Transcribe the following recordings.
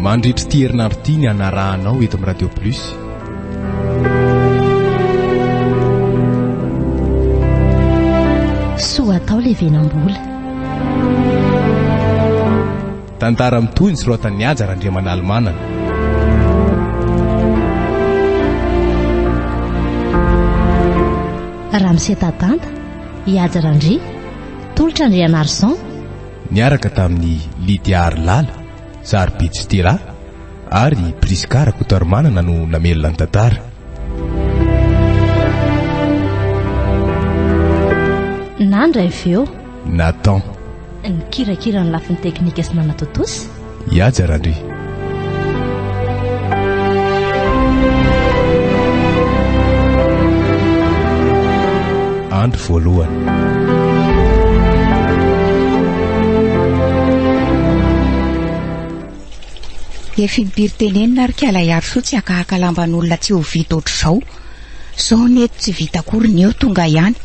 Mandritra ity herinandro ity ny hanarahanao eto amin'ny Radio Plus. Soa atao le venambola. Tantara mitohy ny soratan'ny Haja Randriamanalomanana. Ramose Tadanta, Ihaja Randria, Tolotra Andrianarison, niaraka tamin'i Lydia Harilala, Sarobidy Stella ary Prisca Rakotoarimanana no namelona ny tantara. Nandra avy eo. Nathan. Nikirakira ny lafiny teknika sy nanatontosa. Ihaja Randria. Andro voalohany. Efibiry tenenina ary kala hiarosoa tsy hakahaka lamban'olona tsy ho vita ohatr'izao. Zao ny eto tsy vita akory ny eo tonga ihany.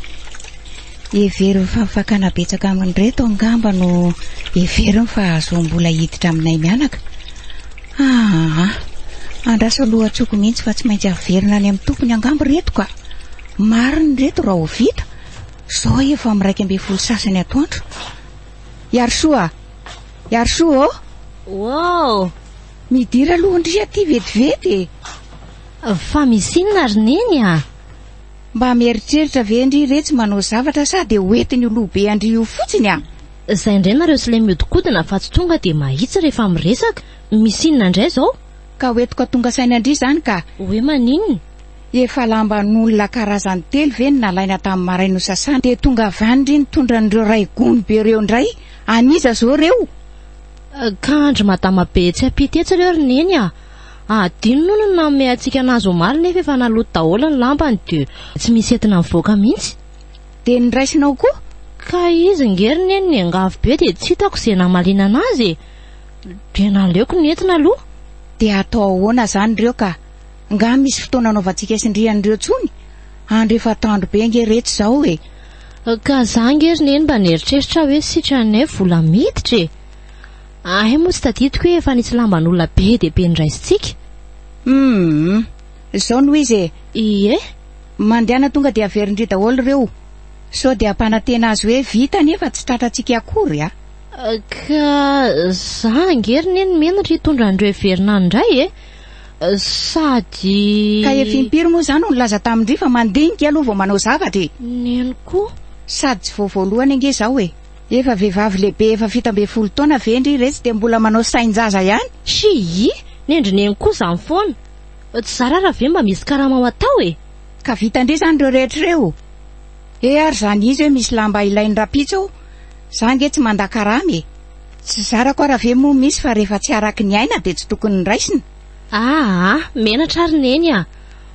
Hevero fa fakana betsaka amin'ireto angamba no heveriny fa hahazoam-bola hiditra aminay mianaka. Aa! Andraso lohatsoko mihitsy fa tsy maintsy haverina any amin'ny tompony angamba ireto ka! Marina ireto raha ho vita, izao efa amin'ny iraika ambin'ny folo sasany atoandro. Iarisoa a! Iarisoa ô! Wow! Midira aloha ndry aty vetivety e! Fa misy inona ry Neny a! Mba mieritreritra ve ndry retsy manao zavatra sa dia ho entiny ho loha be an-dry io fotsiny an? Zay ndray nareo slay miodikodina afatsy tonga dia mahitsy rehefa miresaka. Misy inona ndray zao? Ka ho etoka tonga saina ndry zany ka. Hoe maninona? Efa lamban'olona karazany telo ve no nalaina tamin'ny maraina ho sasana dia tonga avy any ndry nitondra an'ireo ray gony be reo ndray? An'iza zao reo? Ka an-dry madama be tsy ampita etsy reo ry neny a! Hadino hono ny nanome antsika anazy omaly nefa efa naloto daholo ny lampany dia tsy misy entina mivoaka mihitsy. Dia ny raisinao koa? Ka izy nge ry neny niangavy be dia tsy hitako izay namaliana anazy e! Dia naleoko ny entina aloha. Dia atao ahoana izany ireo ka? Nga misy fotoana anaovantsika sindriany ireo tsony? Andro efa atoandro be nge reto izao e! Ka za nge ry neny mba nieritreritra aho hoe sitranay vola miditra e! Ahy moa tsy tadidiko hoe efa nisy lamban'olona be dia be noraisintsika. Humm. Izao no izy e. Ie? Mandehana tonga dia averin-dry daholo ireo. Sao dia hampanantena azy hoe vita nefa tsy tratrantsika akory a! Ka za ange ry neny menatra hitondra an'ireo heverina any indray e! Sady. Ka efa impiry moa za no nilaza tamin-dry fa mandinika aloha vao manao zavatra e! Neny koa. Sady tsy vao voalohany ange izao e! Efa vehivavy lehibe efa fito ambin'ny folo taona ve ndry iretsy dia mbola manao sain-jaza ihany? Schii! Ny an-dry neny koa izany foana. Tsy zara ara ve mba misy karama ho atao e? Ka vita ndry izany ireo rehetra ireo? He ary izany izy hoe misy lamba ilain'ny rapitso ao, za ange tsy manda karama e! Tsy zarako ara ve moa misy fa rehefa tsy araky ny aina dia tsy tokony raisina? Aa! Menatra ary neny a!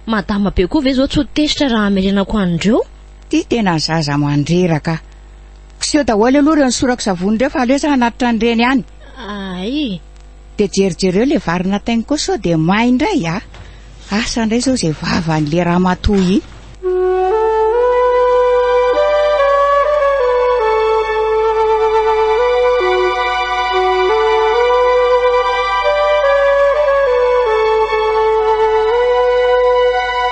Madama be koa ve izao tsy ho tezitra raha hamerenako an'ireo? Ty tena zaza mandreraka. Kiseho daholo aloha ireo nisorako savony ireo fa aleo za anaty tranondreny any. Ay. Dia jerijereo ilay vary natainy koa sao dia may indray a. Asa indray izao izay vavan'ilay ramatoa iny.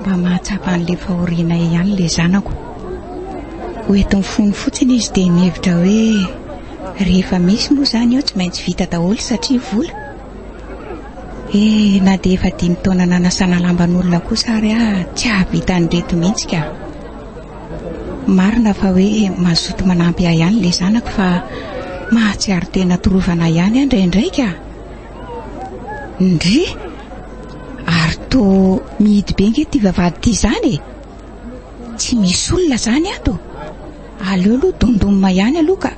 Mba mahatsapa an'ilay fahorianay ihany ilay zanako. Ho eto amin'ny fony fotsiny izy dia mihevitra hoe rehefa misy moa izany eo tsy maintsy vita daholo satria vola. Eh, na dia efa dimy taona nanasana lamban'olona kosa ary aho tsy hahavita an'ireto mihitsy ka. Marina fa hoe mazoto manampy ahy ihany ilay zanako fa mahatsiaro tena torovana ihany aho indraindray ka. Ndry! Ary toa mihidy be ange ity vavahady ity izany e! Tsy misy olona izany ato. Aleo aloha dondonina ihany aloha ka.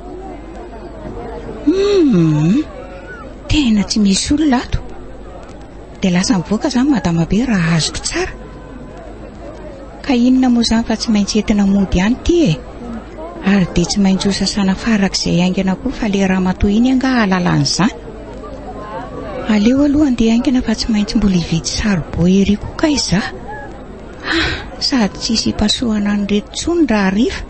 Hmm, tena tsy misy olona ato. Dia lasa mivoaka izany madama be raha azoko tsara. Ka inona moa izany fa tsy maintsy entina mody ihany ity e! Ary dia tsy maintsy hosasana farak'izay haingana koa fa le ramatoa iny angaha hahalala an'izany? Aleo aloha handeha haingana fa tsy maintsy mbola hividy saribao ery koa kay izaho! Hah! Sady tsy hisy hipasohana an'ireto intsony raha hariva!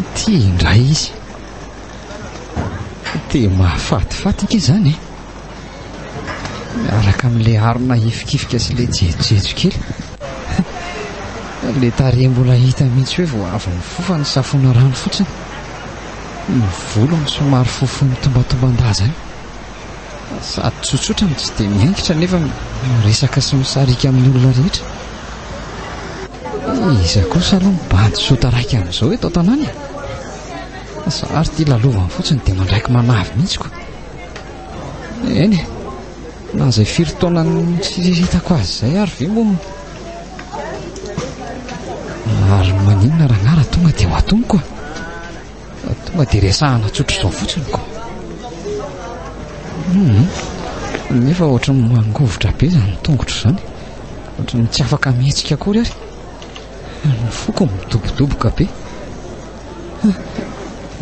Ity indray izy. Dia mahafatifaty ity izany. Miaraka amin'ilay arina hifikifika sy ilay jejojejo kely. Ilay tarehy mbola hita mihitsy hoe vao avy mifofa ny safona rano fotsiny. Ny volony somary fohifohy mitombantomban-daza eo. Sady tsotsotra no tsy dia miaingitra nefa miresaka sy misarika amin'ny olona rehetra. Iza kosa aloha ny bandy soa taraiky amin'izao eto an-tanàna e? Zary ity lalovany fotsiny dia mandraiky manavy mihitsy koa. Eny e, na izay firy taona nitsiriritako azy izay ary ve moa ary maninona raha nara tonga dia ho atomiko a? Tonga dia resahana tsotra izao fotsiny ko. Hmm. Nefa ohatry ny mangovitra be izany tongotra izany. Ohatry ny tsy afaka mihetsika akory ary. Ny foko midobodoboka be.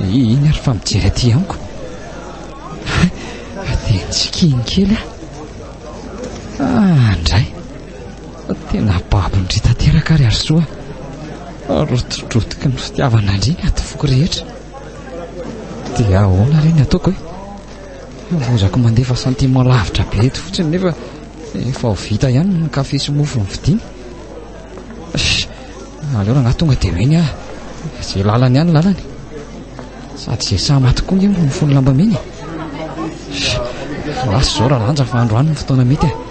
Iny ary fa mijery aty amiko. Dia ntsikin kely ah. Ah, ndray. Tena babon-dry tanteraka ary Harisoa a! Rotidrotiky ny fitiavanandry ny adim-foko rehetra. Dia ahoana re ny ataoko e? Hambozako mandefa sentiment lavitra be eto fotsiny nefa efa ho vita ihany ny kafe sy mofo novidiany. Aleo rangahy tonga dia meny aho. Izay lalany ihany lalany. Sady izay sahy maty koa no mifono lamba mena. Lasa izao raha lanja fa androany ny fotoana mety e.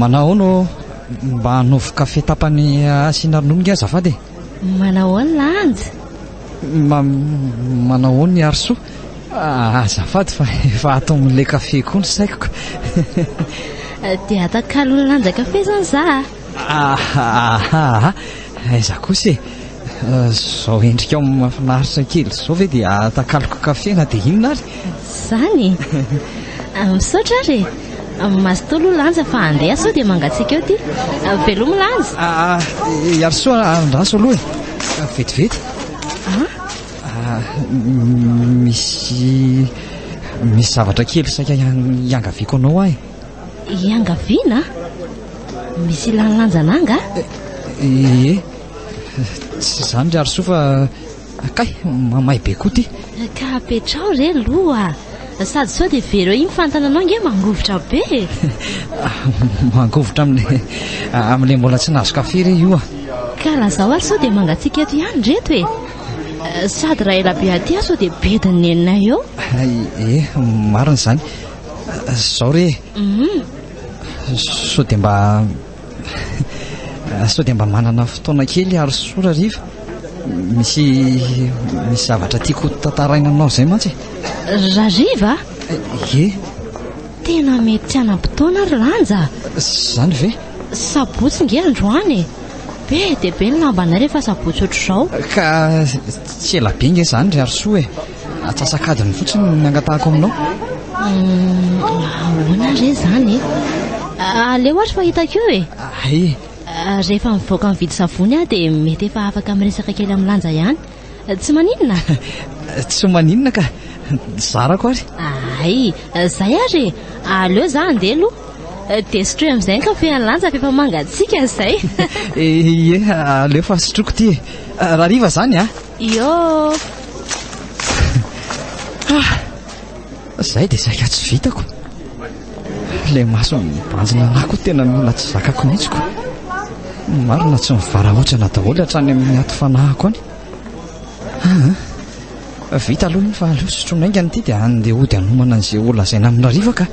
Manao no mba hanovo kafe tapany asiana ronono nge azafady e. Manao ny lanja? Ma, manao ny arso? Ah, azafady fa efa ato amin'ilay kafe koa ny saiko. Dia atakalon'ny lanja kafe zany za. Ahahaha! Aiza kosa e! Izao endrikao mahafinaritra kely izao ve dia atakaloko kafe na dia inona ary? Izany e! Misaotra ary e! Mazotoa aloha Lanja fa handeha sao dia mangatsiaka eo ity. Veloma Lanja! Iarisoa andraso aloha e! Vetivety! Misy zavatra kely saika hiangaviako anao aho e! Iangaviana? Misy ilàny lanjana angaha? Ie, tsy izany ry Harisoa fa kay mamay be koa ity. Ka apetraho re loha sady sao dia very eo iny fantana anao nge mangovitra be e. Mangovitra amin'ilay amin'ilay mbola tsy nahazo kafe re io ah. Ka lazao ary sao dia mangatsiaka eto ihany ry reto e. Sady raha ela be aty aho sao dia bedin'ny neninay eo. Ie, marina izany. Zao re Sao dia mba Sao dia mba manana fotoana kely ary sora riva Misy misy zavatra tiako tantaraina aminao izay mantsy Rariva Ye Tena mety tsy hanam-potoana ry Lanja Zany ve Sabotsy nge androany e Be dia be ny lambanay rehefa sabotsy ohatr'izao Ka tsy ela be nge zany ry Harisoa e Atsasak'adiny fotsiny no nangatahako aminao. Ahoana re izany e? Aleo ary fa hitako eo e. Ay. Rehefa mivoaka mividy savony aho dia mety efa afaka miresaka kely amin'ny lanja ihany. Tsy maninona? Tsy maninona ka. Zarako ary. Ay, zay ary e. Aleo za andeha aloha. Dia sotroy amin'izay ny kafen'ny lanja fa efa mangatsiaka izay. Ie, aleo fa sotroiko ity e. Rahariva izany a. Iô! Ah! Zay dia zay ka tsy vitako. Ilay maso mibanjina anah koa tena mila tsy zakako mihitsy ko. Marina tsy mivarahotsana daholo hatrany amin'ny aty fanahako any. Ah, ah. Vita aloha ny fa aleo sotroina aingana ity dia handeha hody hanomana an'izay ho lazaina amin'Arivaka.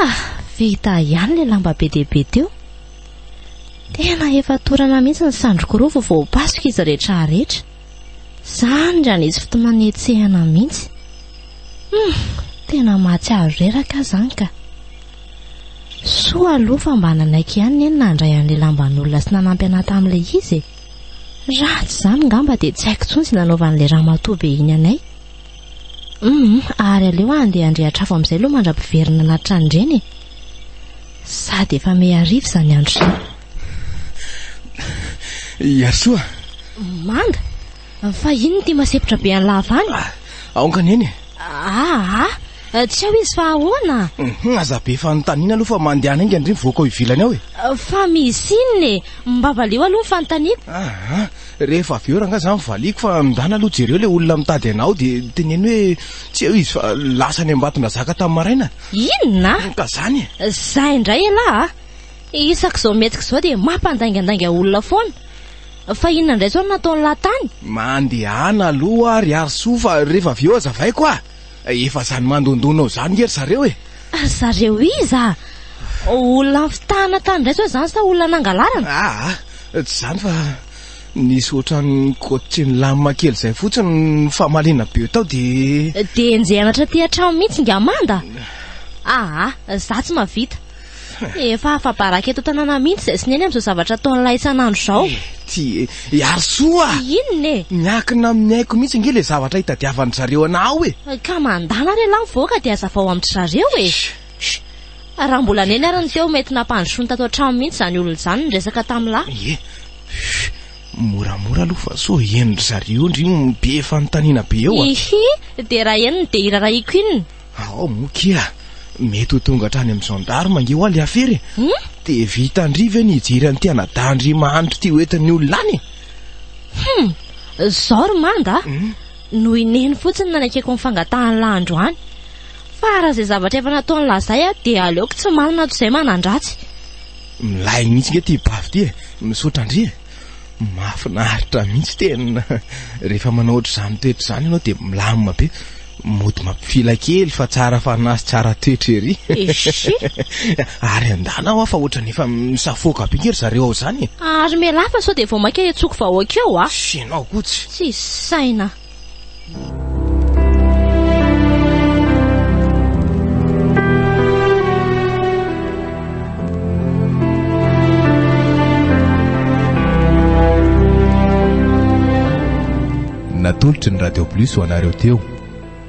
Ah, vita ihany le lamba be dia be teo. Tena efa torana mihitsy ny sandriko roa vao voapasoka izy rehetra rehetra. Zany raha nisy fotomanetsehana mihitsy. Hmm, tena mahatsiaro reraka zany ka. Soa aloha fa mba nanaiky ihany ny nandray an'ilay lamban'olona sy nanampy anà tamin'ilay izy e. Raha tsy izany ngamba dia tsy haiko intsony izay nanaovan'ilay ramatoa be iny anay. Humm ary aleo aho handeha handrehatra afo amin'izay aloha mandra-piverina anaty tranondreny e. Sady efa mehy hariva izany andro izany. Ihasoa! Manda! Fa inona ity masepotra be an'i Lava any? Ah, aoka neny e. Ah, ah, tsy ao izy fa ahoana? Mhm, aza be fanontaniana aloha fa mandehana enga ndry mivoaka ao ivelany ao e. Fa misy inona e? Mba valio aloha ny fanontaniako. Ah, ah. Rehefa avy eo rangahy za mivaliako fa ndana aloha jereo ilay olona mitady anao dia teneno hoe tsy eo izy fa lasa any Ambatondrazaka tamin'ny maraina. Inona? Ka zany e! Zay indray elah a! Isak'izao mihetsika izao dia mampandaingandainga olona foana. Fa inona indray izao no nataon'lah tany? Mandehana aloha ry Harisoa fa rehefa avy eo azavaiko a! Efa zany mandondona zany nge ry zareo e! Ry zareo iza? Olona nifitahana tany indray zao izany sa olona nangalarana? Aa! Tsy zany fa nisy otrany coach nilamina kely zay fotsiny ny famaliana be tao de. De enjehina hatraty an-trano mihitsy nga manda? Aa! Za tsy mahavita. Efa afa-baraka eto an-tanàna mihitsy izay sy neny amin'izao zavatra ataon'ilay isan'andro izao. Ty, hiaro soa! Inona e? Miankina amin'ny aiko mihitsy ange ilay zavatra itadiavan-dry zareo anao e! Ka mandàna re lahy mivoaka dia hazavao amin-dry zareo e! Shh! Raha mbola neny ary ny teo mety nampandrosoiny tato an-trano mihitsy izany olona izany niresaka tamin'lah. Ie! Shh! Moramora aloha fa sao henon'dry zareo ndry io be fanontaniana be eo a! Hihi! Dia raha henony dia irarahiako inona? Ao moa kia, mety ho tonga hatrany amin'ny gendarme ange hoa le afera e. Hmm? Dia vitan-dry ve ny hijery an'ity anadahin-dry mahantra ity ho entin'ny olona any e? Hmm, zao ry manga ah. hmm? no ineny fotsiny nanekeko ny fangatahan'ny lahy androany. Fa raha izay zavatra efa nataony lazay ah, dia aleoko tsy malina toy izay manandratsy. Milay mihitsy nge ity bavy ity e. Misaotra ndry e. Mahafinaritra mihitsy tena rehefa manao ohatr'izany toetra izany ianao dia milamina be. Mody mampifila kely fa tsara fanahy sy tsara toetra ery. Eshi. Ary andana hoa fa ohatrany efa misafoaka be nge ry zareo ao izany e. Ary mialà fa sao dia vao mainka hentsoako vahoaka eo a. Sy ianao koa tsy. Tsisy saina. natolotry ny radio plus ho anareo teo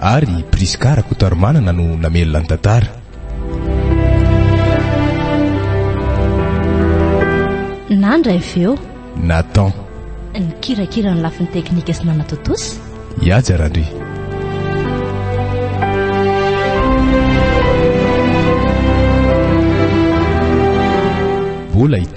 Ary i Prisca Rakotoarimanana no namelona ny tantara. Nandra avy eo. Nathan. Nikirakira ny lafiny teknika sy nanatontosa. Iaja Randria. Bola hitory.